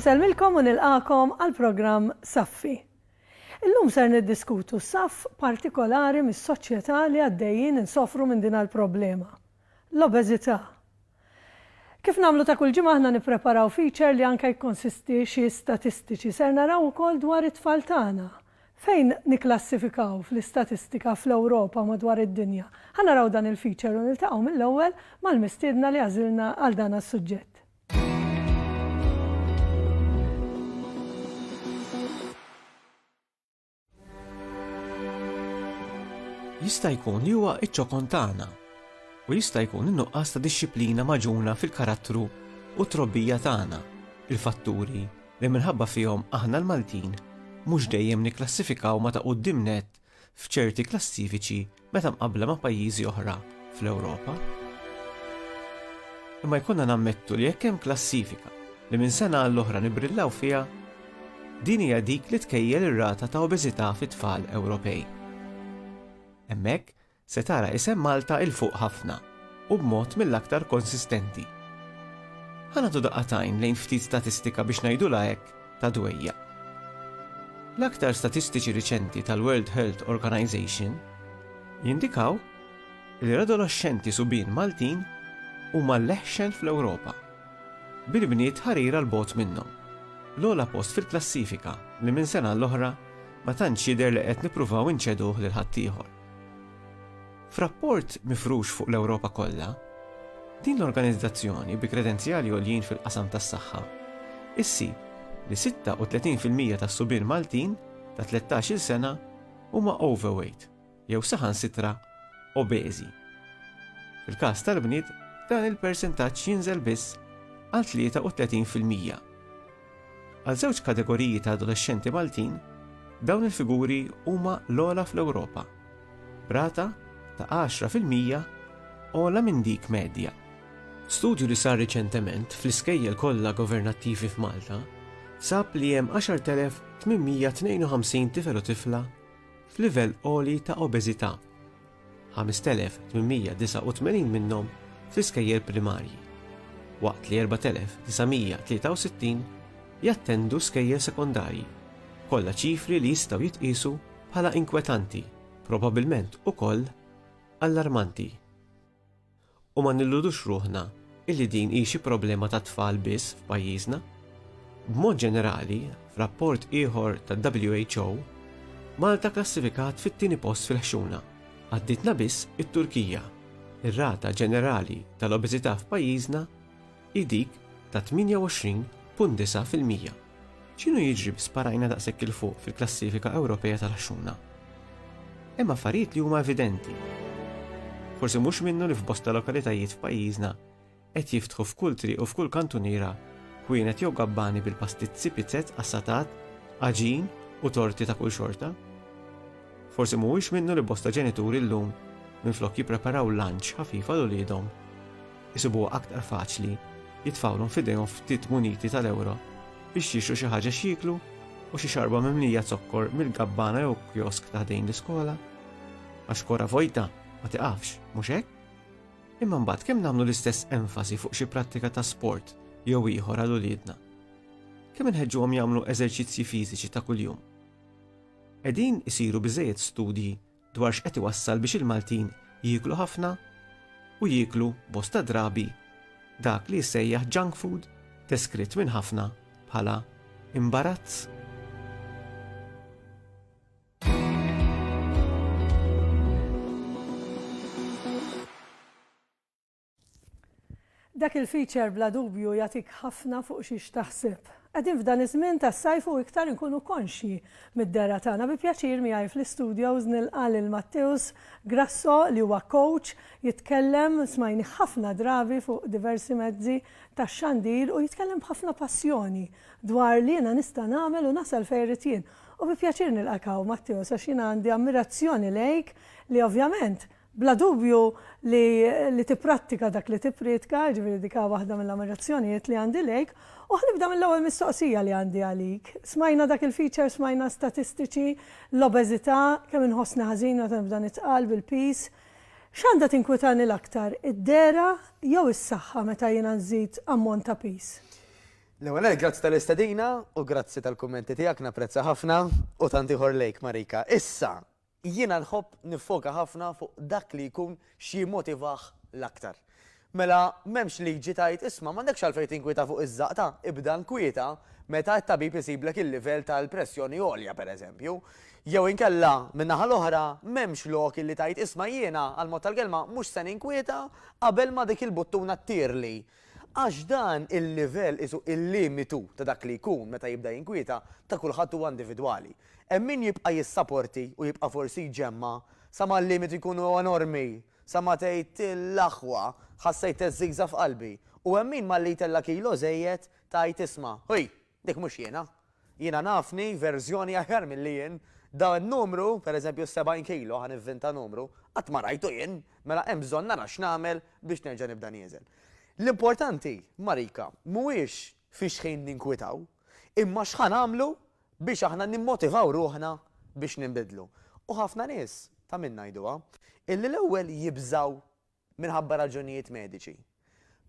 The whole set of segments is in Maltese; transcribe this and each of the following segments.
Insellmilkom u nilqagħkom għall-programm Saffi. Illum ser niddiskutu saff partikolari mis-soċjetà li għaddejjin insofru minn din għall-problema. L-obeżità. Kif nagħmlu ta' kull ġimgħa aħna nippreparaw feature li anke jikkonsisti xi statistiċi. Ser naraw ukoll dwar it-tfal tagħna. Fejn nikklassifikaw fl-istatistika fl-Ewropa u madwar id-dinja? Ħa naraw dan il-feature u niltaqgħu mill-ewwel mal-mistiedna li għażilna għal dan għas-suġġett. Jista' jkun li huwa iċ-ċokon tagħna u jista' jkun in-nuqqas ta' dixxiplina maġuna fil-karattru u trobbija tagħna, il-fatturi li minħabba fihom aħna l-Maltin mhux dejjem nikklassifikaw ma' ta' quddiem nett f'ċerti klassifiċi meta mqabbla ma' pajjiżi oħra fl-Ewropa. Imma jkollna nammettu li jekk hemm klassifika li minn sena għall-oħra nibrillaw fiha, din hija dik li tkejjel ir-rata ta' obeżità fit-tfal Ewropej. Hemmhekk se tara isem Malta 'il fuq ħafna u b'mod mill-aktar konsistenti. Ħa nagħtu daqqa t'għajn lejn ftit statistika biex ngħidulha hekk, ta' dwejjaq. L-aktar statistiċi riċenti tal-World Health Organization jindikaw li l-adoloxxenti subien Maltin huma l-eħxen fl-Ewropa, bil-bniet ħarira 'l bogħod minnhom. L-ogħla post fil-klassifika li minn sena għall-oħra ma tantx jidher li qed nippruvaw inċeduh lil ħaddieħor. F'rapport mifrux fuq l-Ewropa kollha, din l-organizzazzjoni bi kredenzjali għoljin fil-qasam tas-saħħa ssib li 36 fil-mija tas-subien Maltin ta' tlettax-il sena huma overweight jew saħansitra obeżi. Fil-każ tal-bniet dan il-persentaġġ jinżel biss għal 33 fil-mija. Għal żewġ kategoriji ta' adolexxenti Maltin, dawn il-figuri huma l-ogħla fl-Ewropa, b'rata ta' għaxra fil-mija ogħla minn dik medja. Studju li sar riċentement fl-iskejjel kollha governattivi f'Malta sab li hemm 10,852 tifel u tifla f'livell għoli ta' obeżità. 5,889 minnhom fl-iskejjel primarji, waqt li 4,963 jattendu skejjel sekondarji, kollha ċifri li jistgħu jitqiesu bħala inkwetanti, probabbilment ukoll allarmanti. U ma nilludux ruħna illi din hi xi problema tat-tfal biss f'pajjiżna. B'mod ġenerali, f'rapport ieħor tad-WHO, Malta klassifikat fit-tieni post fil-ħxuna, għaddietna biss it-Turkija. Ir-rata ġenerali tal-obeżità f'pajjiżna hi dik ta' 28.9 fil-mija. X'inhu jiġri bi sparajna daqshekk 'il fuq fil-klassifika Ewropea tal-għaxxuna? Hemm affarijiet li huma evidenti. Forsi mhux minnu li f'bosta lokalitajiet f'pajjiżna qed jiftħu f'kull triq u f'kull kantuniera ħwienet jew gabbani bil-pastizzi, pizzett, qassatat, għaġin u torti ta' kull xorta. Forsi mhuwiex minnu li bosta ġenituri llum minflok jippreparaw lunch ħafif għal uliedhom, isibuha aktar faċli jitfgħulhom f'idejhom ftit muniti tal-ewro biex jixtru xi ħaġa x'jieklu u xi xarba mimlija zokkor mill-gabbana jew kiosk ta' ħdejn l-iskola. Għax kora vojta ma tiqafx, mhux hekk? Imma mbagħad kemm nagħmlu l-istess enfasi fuq xi prattika ta' sport jew ieħor għal uliedna? Kemm inħeġġuhom jagħmlu eżerċizzji fiżiċi ta' kuljum? Qegħdin isiru biżejjed studji dwar x'qed iwassal biex il-Maltin jieklu ħafna u jieklu bosta drabi dak li jissejjaħ junk food deskritt minn ħafna bħala imbarazz. Dak il-feature bla dubju jagħtik ħafna fuq xiex taħseb. Qegħdin f'dan iż-żmien tas-sajf u iktar inkunu konxji mid-dehra tagħna. Bi pjaċir miegħi fl-istudios nilqa' lil Matteus Grasso li huwa coach, jitkellem, smajnih ħafna drabi fuq diversi mezzi tax-xandir u jitkellem b'ħafna passjoni dwar li jiena nista' nagħmel u nasal fejn irrid jien. U bi pjaċir nilqak hawn Matteus għax jiena għandi ammirazzjoni lejk li ovvjament Bla dubju li li tipprattika dak li tipprietka, jiġifieri dik hi waħda mill-ammirazzjonijiet li għandi lejk. U ħa nibda mill-ewwel mistoqsija li għandi għalik. Smajna dak il-feature, smajna statistiċi, l-obeżità, kemm inħossni ħażin meta nibda nitqal bil-piż. X'għandha tinkwitani l-aktar, id-dehra jew is-saħħa meta jiena nżid ammont ta' piż? L-ewwel nett grazzi tal-istedina u grazzi tal-kummenti tiegħek, napprezza ħafna, u tant ieħor lejk Marika. Issa, Jiena nħobb niffoka ħafna fuq dak li jkun x'jimmotivah l-aktar. Mela m'hemmx liġi tgħid isma' m'għandekx għalfejn tinkwieta fuq iż-żaqta, ibda nkwieta meta t-tabib isiblek il-livell tal-pressjoni għolja pereżempju. Jew inkella, min-naħa l-oħra, m'hemmx lok illi tgħid isma' jiena, għall-mod tal-kelma, mhux se ninkwieta qabel ma dik il-buttuna ttirli. Għax dan il-livell qisu il-limitu ta' dak li jkun meta jibda jinkwieta ta' kulħadd huwa individwali. Hemm min jibqa' jissaporti u jibqa' forsi jġemma' sa ma l-limitu jkun enormi, sa ma tgħid l-aħwa, ħassejt teżżigża f'qalbi, u hemm min malli jtella' kilo żejjed tgħid isma', ħuj! Dik mhux jiena. Jiena nafni verżjoni aħjar milli jien. Dan in-numru, per eżempju s-70 kilo, ħa nivvinta numru, qatt ma rajtu jien, mela hemm bżonn nara x'nagħmel biex nerġa' nibda nieżen. L-importanti, Marika, mhuwiex fi xħin ninkwitaw, imma x'ħa nagħmlu biex aħna nimmotivaw ruħna biex ninbidlu. U ħafna nies, ta' min ngħiduha, illi l-ewwel jibżgħu minħabba raġunijiet mediċi.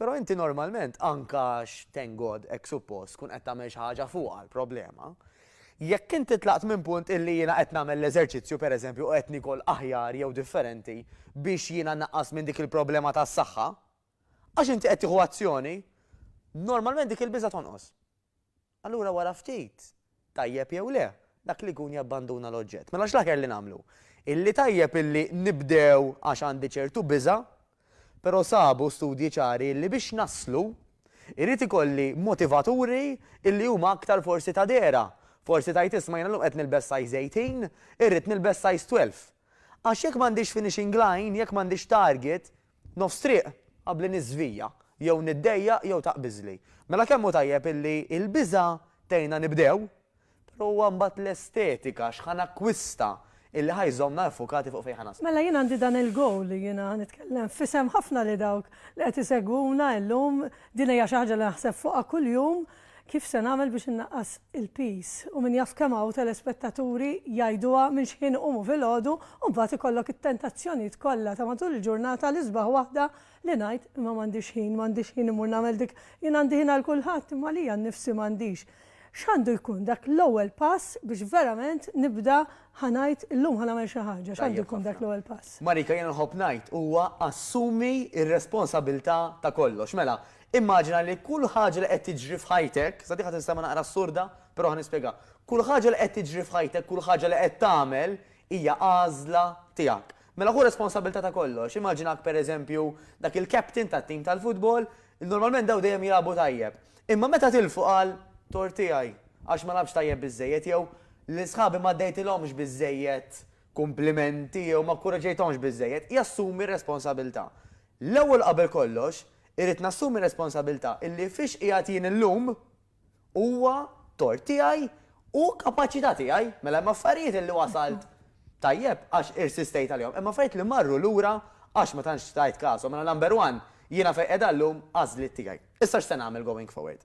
Però inti normalment, anke għax thank God hekk suppost, tkun qed tagħmel xi ħaġa fuqha l-problema. Jekk inti tlaqt minn punt illi jiena qed nagħmel l-eżerċizzju pereżempju u qed niekol aħjar jew differenti biex jiena nnaqqas minn dik il-problema tas-saħħa, għax inti qed tieħu azzjoni, normalment dik il-biża' tonqos. Allura wara ftit, tajjeb jew le, dak li jkun jabbanduna l-oġġett. Mela x'l-aħjar li nagħmlu? Illi tajjeb illi nibdew għax għandi ċertu biża', però sabu studji ċari illi biex naslu, irid ikolli motivaturi illi huma aktar forsi ta' dehra. Forsi tgħid isma' jiena llum qed nilbes size 18, irrid nilbes size 12. Għax jekk m'għandix finishing line, jekk m'għandix target, nofs triq, qabli niżvija, jew niddejjaq jew taqbiżli. Mela kemm hu tajjeb illi l-biża' tgħinna nibdew, però huwa mbagħad l-estetika, x'ħa nakkwista, illi ħa jżommna iffukati fuq fejn ħa naslu. Mela jien għandi dan il-goal li jiena ħa nitkellem f'isem ħafna li dawk li qed isegwuna illum, din hija xi ħaġa li naħseb fuqha kuljum, Kif se nagħmel biex innaqqas il-piż? U min jaf kemm hawn telespettaturi jgħiduha minn x'ħin iqumu filgħodu u mbagħad ikollok it-tentazzjonijiet kollha ta' matul il-ġurnata l-isbaħ waħda li ngħid imma m'għandix ħin, m'għandix ħin immur nagħmel dik, jien għandi ħin għal kulħadd imma għalija nnifsi m'għandix. X'għandu jkun dak l-ewwel pass biex verament nibda ħa ngħid illum ħa nagħmel xi ħaġa, x'għandu jkun dak l-ewwel pass? Marika, jiena nħobb ngħid huwa assumi r-responsabilità ta' kollox. Mela, Immaġina li kull ħaġa li qed tiġri f'ħajtek, sa din ħa tinstema' naqra assurda, però ħa nispjegha, kull ħaġa li qed tiġri f'ħajtek, kull ħaġa li qed tagħmel hija għażla tiegħek. Mela ħu responsabbiltà ta' kollox. Immaġinak pereżempju dak il-captain tat-tim tal-futbol, normalment dawn dejjem jilagħbu tajjeb. Imma meta tilfu qal, tort tiegħi, għax ma lagħbtx tajjeb biżżejjed jew, lil sħabi m'għaddejtilhomx biżżejjed kumplimenti jew ma kkuraġġejthomx biżżejjed, jassumi r-responsabilità. L-ewwel qabel kollox, irrid nassumi r-responsabilità illi fiex qiegħed jien illum huwa tort tiegħi u kapaċità tiegħi. Mela hemm affarijiet illi wasalt tajjeb għax irsistejt għalihom, hemm affarijiet li marru lura għax ma tantx tajt kasom. Mela number one, jiena fejn qiegħda llum għażliet tiegħi. Issa x'se nagħmel going forward?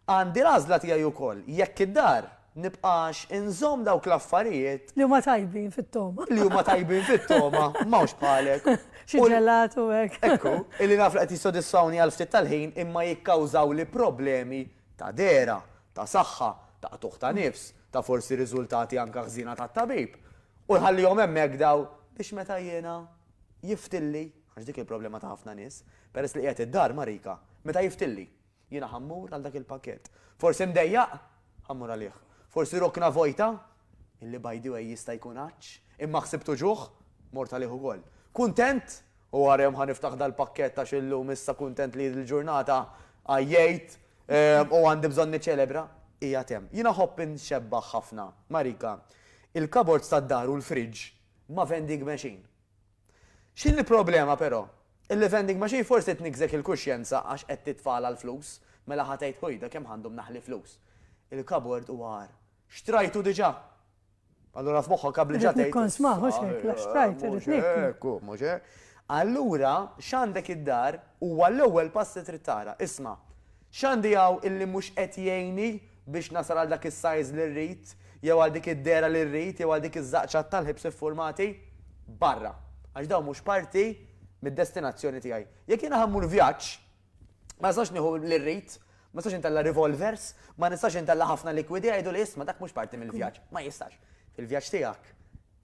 Għandi l-għażla tiegħi wkoll jekk id-dar nibqax inżomm dawk l-affarijiet. Li huma tajbin fit-togħma. Li huma tajbin fit-togħma, m'hawnx bħalek. Xi ġelat u hekk. Ekku, illi naf li qed jissodisfawni għal ftit tal-ħin imma jikkawżawli problemi ta' dehra, ta' saħħa, ta' qtugħ ta' nifs, ta' forsi riżultati anke ħżiena tat-tabib. U nħallihom hemmhekk dawn biex meta jiena jiftilli. Għax dik il-problema ta' ħafna nies. Peress li qiegħed id-dar ma' Rika. Meta jiftilli. Jiena ħa mmur għal dak il-pakkett. Forsi mdejjaq? Ħa mmur għalih. Forsi rokna vojta? Illi by the way jista' jkun għatx. Imma ħsibt uġugħ? Mort għalih ukoll. Kuntent? U wara jum ħa niftaħ dal-pakkett għax illum issa kuntent li l-ġurnata għajjejt u għandi bżonn niċċelebra. Qiegħed hemm. Jiena ħobb inxebbah ħafna ma' Rika. Il-cupboards tad-dar u l-fridge ma' vending machine. X'inhi l-problema però? Il-vending machine forsi tniggżek il-kuxjenza għax qed titfagħalha l-flus, mela ħa tgħid ħujda kemm għandu mnaħħli flus. Il-kabord huwa agħar. Xtrajtu diġà! Allura f'moħħok qabel ġa tgħid. Irrid nikkonsmah, mhux hekk, la xtrajt, irrid nieklu. Mhux hekk hu, mhux hekk. Allura x'għandek id-dar huwa l-ewwel pass li trid tara. Isma', X'għandi hawn illi mhux qed jgħinni biex nasal għal dak is-size li rrid, jew għal dik id-dehra li rrid, jew għal dik iż-żaqċat tal-ħibs iffurmati? Barra! Għax dawn mhux parti mid-destinazzjoni tiegħi. Jekk jiena ħa mmur vjaġġ, ma nistax nieħu li rrid, ma nistax intella' revolvers, ma nistax intella' ħafna likwidi, jgħiduli isma' dak mhux parti mill-vjaġġ. Ma jistax. Fil-vjaġġ tiegħek,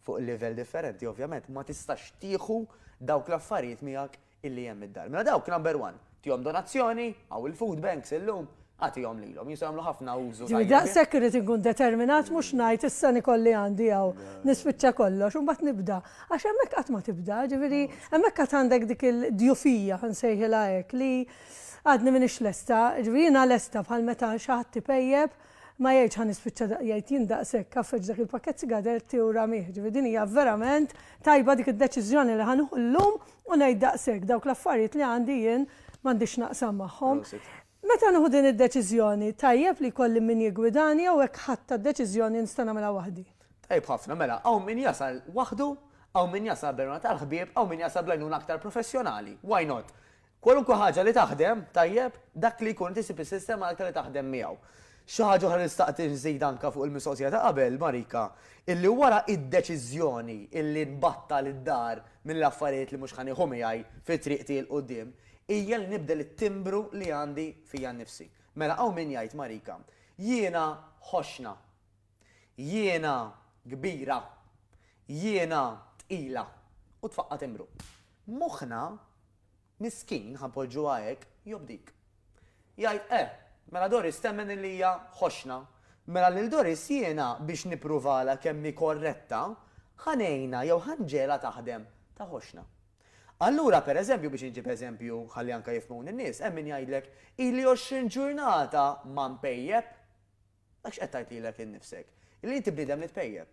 fuq livell differenti ovvjament, ma tistax tieħu dawk l-affarijiet miegħek illi hemm id-dar. Mela dawk number one, tihom donazzjoni, hawn il-food banks illum, agħtihom lilhom, jistgħu jagħmlu ħafna użu tajjeb. Ġifieri daqshekk irrid inkun determinat mhux ngħid issa nikolli għandi hawn, nispiċċa kollox u mbagħad nibda. Għax hemmhekk qatt ma tibda, ġifieri hemmhekk għad għandek dik il-djufija, ħa nsejħilha hekk, li għadni m'iniex lesta, ġifieri jiena lesta bħal meta xi ħadd ipejjep, ma jgħidx ħa nispiċċa da, jgħid jien daqshekk għaffeġ dak il-pakkett sigaretti u ramih, ġifieri din hija verament tajba dik id-deċiżjoni li ħa nieħu llum U ngħid daqshekk, dawk l-affarijiet li għandi jien m'għandix naqsam magħhom. Meta nieħu din id-deċiżjoni, tajjeb li jkolli min jiggwidani jew hekk ħadtha d-deċiżjoni nista' nagħmilha waħdi? Tajjeb ħafna, mela hawn min jasal waħdu, hawn min jasal b'għenuna tal-ħbieb, hawn min jasal bl-għajnuna aktar professjonali. Why not? Kwalunkwe ħaġa li taħdem tajjeb, dak li jkun inti ssib is-sistema l-aktar li taħdem miegħu. Xi ħaġa oħra li xtaqt inżid anke fuq il-mistoqsija ta' qabel, Marika, illi wara d-deċiżjoni illi nbattal id-dar mill-affarijiet li mhux ħa nieħu miegħi fi triq tiegħi 'l quddiem, hija li nibdel it-timbru li għandi fija nnifsi. Mela hawn min jgħid, Marika, jiena ħoxxna. Jiena kbira, jiena tqila, u tfaqqa' timbru. Moħħna, miskin, ħa npoġġuha hekk, jobdik. Jgħid, Eh, mela Doris temmen li hija ħoxna. Mela lil Doris jiena, biex nippruvalha kemm hi korretta, ħa ngħinha jew ħa nġegħlha taħdem ta' ħoxna. Allura, per eżempju, biex inġib eżempju ħalli anke jifhmuni n-nies, hemm min jgħidlek, Ili għoxrin ġurnata ma npejjep. Dak x'qed tgħid lilek innifsek? Li inti bniedem li tpejjep.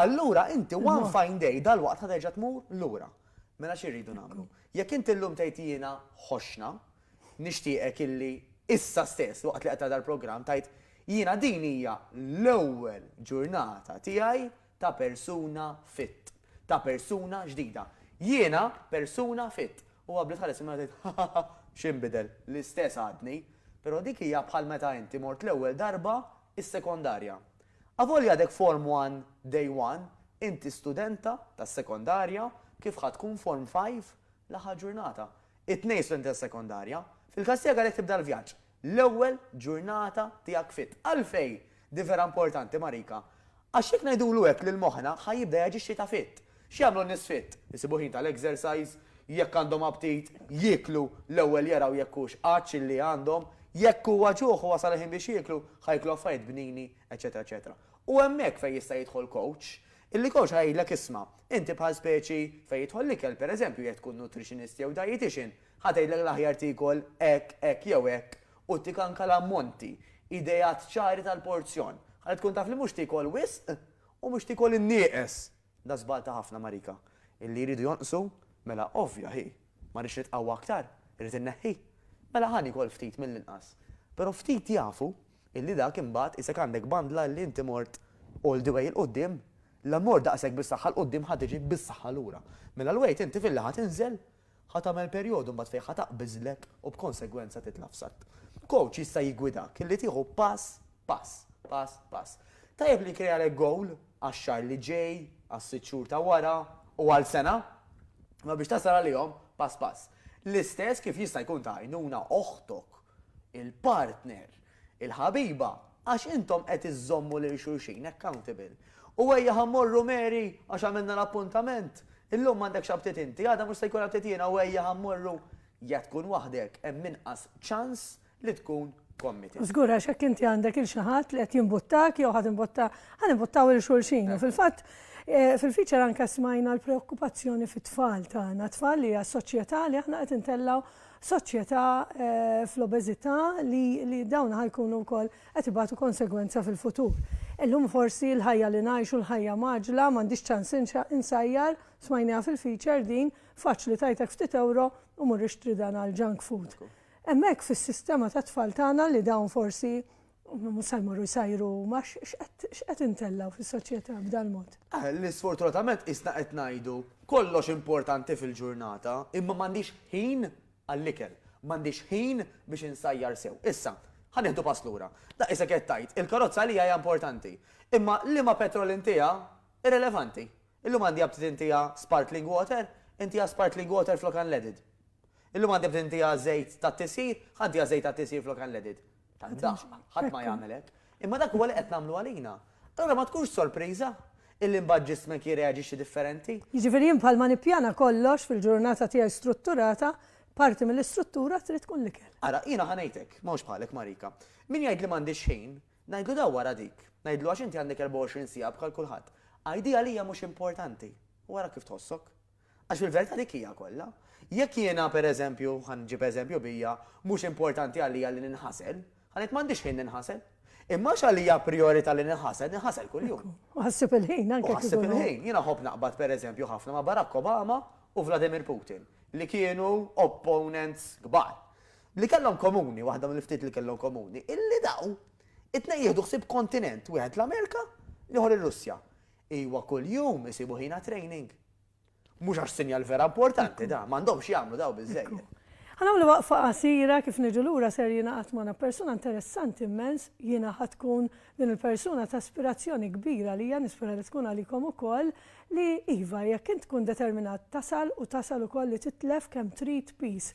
Allura inti one fine day dalwaqt ħa terġa' tmur lura. Mela xi rridu nagħmlu? Jekk inti llum tgħid jiena ħoxna, nixtieqek illi issa stess waqt li qed tara dal-programm tgħid, jiena din hija l-ewwel ġurnata tiegħi Ta' persuna fit. Ta' persuna ġdida. Jiena persuna fit. U qabli tħares il-mara tgħid, Hahaha, x'inbidel? L-istess għadni. Però dik hija bħal meta inti mort l-ewwel darba s-sekondarja. Avolja għadek Form One Day One, inti studenta tas-sekondarja kif ħa tkun Form Five l-aħħar ġurnata. It-tnejn studenti tas-sekondarja. Fil-każ tiegħek għalhekk tibda l-vjaġġ. l-ewwel ġurnata tiegħek fit. Għalfejn din vera importanti Marika? Għax jekk ngħidulu hekk lil moħħna ħa jibda jaġixxi ta' fit. X'jagħmlu n-nies fit? Isibu ħin tal-exercise, jekk għandhom aptit, jieklu, l-ewwel jaraw jekk hux għatx illi għandhom, jekk huwa ġuħ u wasal il-ħin biex jieklu, ħa jieklu affarijiet bnini, eċċetera eċċetera. U hemmhekk fejn jista' jidħol coach, illi coach ħa jgħidlek isma', inti bħal speċi fejn jidħol l-ikel, pereżempju jekk tkun nutritionist jew dietician, Ħa tgħidlek l-aħjar tiekol hekk, hekk jew hekk u tik anke l-ammonti, ideat ċari tal-porzjon, ħalli tkun taf li mhux tiekol wisq u mhux tiekol in-nieqes. Da żball ta' ħafna marika. Illi jridu jonqsu? Mela ovvja hi. Ma rridx nitqawwa aktar? Irrid inneħħi? Mela ħa niekol ftit mill-inqas. Però ftit jafu illi dak imbagħad qisek għandek bandla illi inti mort all the way 'il quddiem. La mort daqshekk bis-saħħa 'l quddiem ħa tiġi bis-saħħa lura. Mela l-weight inti fil-lejl ħa tinżel Ħa tagħmel perjodu mbagħad fejn ħa taqbiżlek u b'konsegwenza titla' f'satt. Kowċ jista' jiggwidak li tieħu pass pass, pass pass. Tajjeb li jkrealek gowl għax-xahar li ġej, għas-sitt xhur ta' wara u għal sena. Imma biex tasal għalihom, pass pass. L-istess kif jista' jkun ta' għajnuna oħtok il-partner, il-ħabiba, għax intom qed iżżommu lil xulxin accountable. U ejja ħa mmorru Mary, għax għamilna l-appuntament, illum m'għandekx aptit inti, għada mhux se jkolli aptit jiena u ejja ħa mmorru, jekk tkun waħdek hemm inqas ċans li tkun committed. Żgur għax jekk inti għandek 'il xi ħadd li qed jimbuttak jew ħa timbutta, ħa nimbuttaw 'il xulxin. U fil-fatt fil-feature anke smajna l-preokkupazzjoni fit-tfal tagħna, tfal li għas-soċjetà li aħna qed intellgħu soċjetà fl-obeżità li dawn ħa jkunu wkoll qed ibatu konsegwenza fil-futur. Illum forsi l-ħajja li ngħixu, l-ħajja mgħaġġla, m'għandix ċans insajjar, smajniha fil-feature din, faċli tgħidlek ftit ewro u mur ixtri dan għall-junk food. Hemmhekk fis-sistema tat-tfal tagħna li dawn forsi Mhux se jmorru jsajru huma, x'qed intellgħu fis-soċjetà b'dal-mod? Li sfortunatament qisna qed ngħidu kollox importanti fil-ġurnata, imma m'għandix ħin għall-ikel, m'għandix ħin biex insajjar sew. Issa, ħa nieħdu pass lura. Daqq isek qed tgħid, il-karozza għalija hija importanti. Imma liema petrol intiha, irrilevanti. Illum għandi aptit intiha sparkling water, intiha sparkling water flok unleaded. Illum għandi aptit intiha żejt tat-tisjir, ħa ntiha żejt tat-tisjir flok unleaded. Ta' ndaħq, ħadd ma jagħmel hekk. Imma dak huwa li qed nagħmlu għalina. Allura ma tkunx sorpriża illi mbagħad ġismek jirreaġixxi differenti. Jiġifieri jien bħalma nippjana kollox fil-ġurnata tiegħi strutturata, parti mill-istruttura trid tkun l-ikel. Ara, jiena ħa ngħidlek, m'hawnx bħalek Marika. Min jgħid li m'għandix ħin, ngħidlu daw wara dik. Ngħidlu għax inti għandek 24 siegħa bħal kulħadd. Għidi għalija mhux importanti u ara kif tħossok. Għax fil-verità dik hija kollha. Jekk jiena, per eżempju, ħa nġib eżempju bija, mhux importanti għalija li ninħasel, ħa ngħid m'għandix ħin ninħasel. Imma għax għalija prijorità li ninħasel, ninħasel kuljum. U ħassib il-ħin anke. U ħassib il-ħin. Jiena nħobb naqbad per eżempju ħafna ma' Barack Obama u Vladimir Putin, li kienu opponents kbar. Li kellhom komuni, waħda mill-ftit li kellhom komuni, illi daw it-tnejn jieħdu ħsieb kontinent, wieħed l-Amerika, l-ieħor ir-Russja. Iwa kuljum isibu ħina training. Mhux għax sinjal vera importanti dan, m'għandhomx jagħmlu dawn biżżejjed. Ħa nagħmlu waqfa qasira, kif niġu lura ser jingħaqad magħna persuna interessanti immens, jiena ħa tkun din il-persuna ta' ispirazzjoni kbira għalija, nispera li tkun għalikom ukoll, li iva jekk int tkun determinat tasal u tasal ukoll li titlef kemm trid peace.